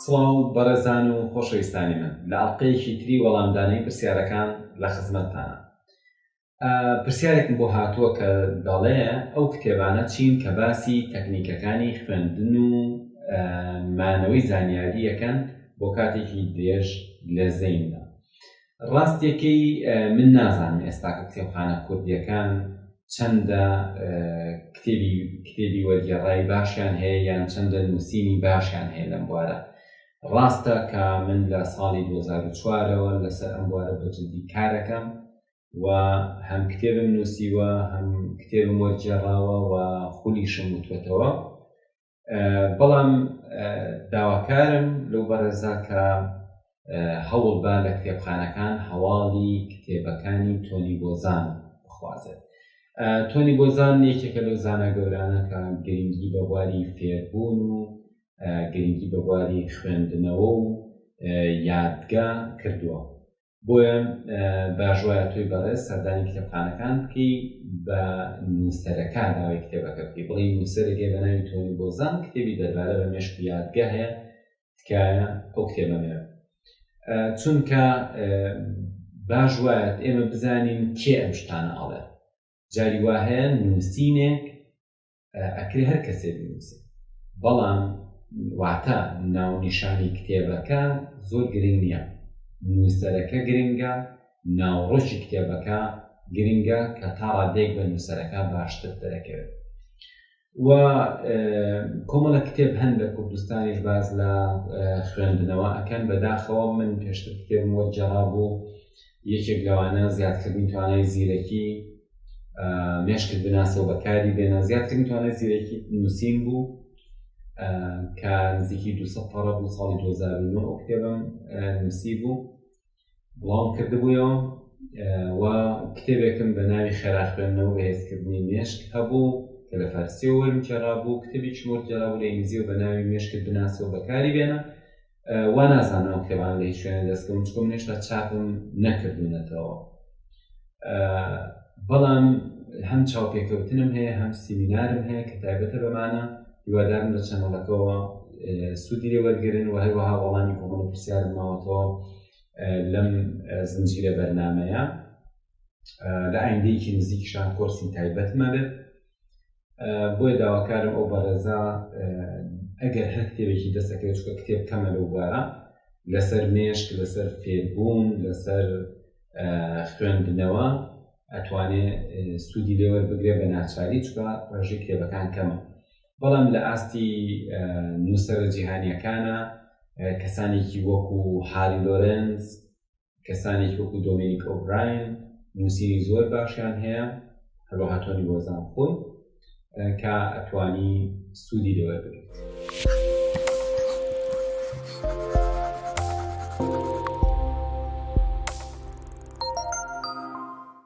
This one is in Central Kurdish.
سڵاو بەڕێزان و خۆشەویستانی من لە ئەڵلقەیەکی تری وەڵامدانەی پرسیارەکان لە خزمەتتانە پرسیارێکم بۆ هاتووە کە دەڵێ ئەو کتێبانە چین کە باسی تەکنیکەکانی خوێندن و مانەوەی زانیاریەکەن بۆ کاتێکی درێژ لە زەیندا ڕاستیەکەی من نازانم ئێستاکە کتێبخانە کوردیەکان چەندە کتێبی کتێبی وەرگێڕای باشیان هەیە یان چەندە نووسینی باشیان هەیە لەم بوارە ڕاستە کە من لە ساڵی 2004ەوە لەسەر ئەم بوارە بەجددی کارەکەم و هەم کتێبم نووسیوە هەم کتێبم وەرگێڕاوە و خولیشم وتوێتەوە بەڵام داواکارم لەو بەڕێزا کە هەوڵ با لە کتێبخانەکان هەواڵی کتێبەکانی تۆنی بۆزان بخوازێت تۆنی بۆزان یەکێکە لەو زانە گەورانە کە گرنگی بە بواری فێربوون و گرنگی بە بواری خوێندنەوە و یادگە کردووە بۆیان باش وایە تۆی بەڕێز سەردانی کتێبخانەکان بکەی بە نووسەرەکە ناوی کتێبەکە بکەی بڵی نووسەرێکێ بە ناوی تۆنی بۆزان کتێبی دەربارە بە مێشک و یادگە هەیە تکایە ئەو کتێبەمێ چونکە باش وایە ئێمە بزانین کێ ئەم شتانە ئاڵێ جاری وا هەیە نووسینێک ئەکرێ هەر کەسێ بنووسێ بەڵام واتە ناونیشانی کتێبەکە زۆر گرنگ نییە نووسەرەکە گرنگە ناوڕۆژی کتێبەکە گرنگە کە تا ڕادێک بە نووسەرەکە باشتر دەرەکەوێت و کۆمەڵە کتێب هەن لە کوردستانیش باز لە خوێندنەوە ئەکەن بەداخەوە من پێشتر کتێبم وەرجەڕا بوو یەکێک لەوانە زیادکردنی توانای زیرەکی مێشکت بناسە و بەکاری بێنە زیادکردنی توانای زیرەکی نووسین بوو کە نزیکی دو پەڕە بوو ساڵی 2009 ئەو کتێبم نووسی بوو بڵاوم کردبوویەوە و کتێبێکم بە ناوی خێرا خوێندنەوە بەهێزکردنی مێشک هەبوو کە لە فارسیەوە وەرم کێڕابوو کتێبی چمۆر کێرابوو لە ئینگلیزیەوە بە ناوی مێشکت بناسەوە بەکاری بێنە وا نازانم ئەم کتێبانە لە هیچ شوێنێ دەستکەون چکۆ من هێشتا چاپم نەکردوونەتەوە بەڵام هەم چاوپێکەوتنم هەیە هەم سیمینارم هەیە کە تایبەتە بەمانە هیوادارم لە چەنەڵەکەەوە سوودی لێ وەرگن و هەروەها وەڵامی کۆمەڵ پرسیارم ماوەتەوە لەم زنجیرە بەرنمەیە لە ئایندەیەکی نزیکشان کۆرسی تایبەتمە بێت بۆیە داواکارم ئەو بەڕێزە ئەگەر هەر کتێبێکی دەستەکەی چکە کتێب کەمە لەو بارە لەسەر مێشک لەسەر فێربوون لەسەر خوێندنەوە ئەتوانێ سوودی لێوەر بگرێ بە ناچاری چکە ڕێژەی کتێبەکان کەمە بەڵام لە ئاستی نووسرە جیهانیەکانە کەسانێکی وەکو هاری لۆرنس کەسانێکی وەکو دۆمینیک ئۆبراین نووسینی زۆر باشیان هەیە هەروەها تۆنی وەزان خۆی کە ئەتوانی سوودی لێوەر بگرێت.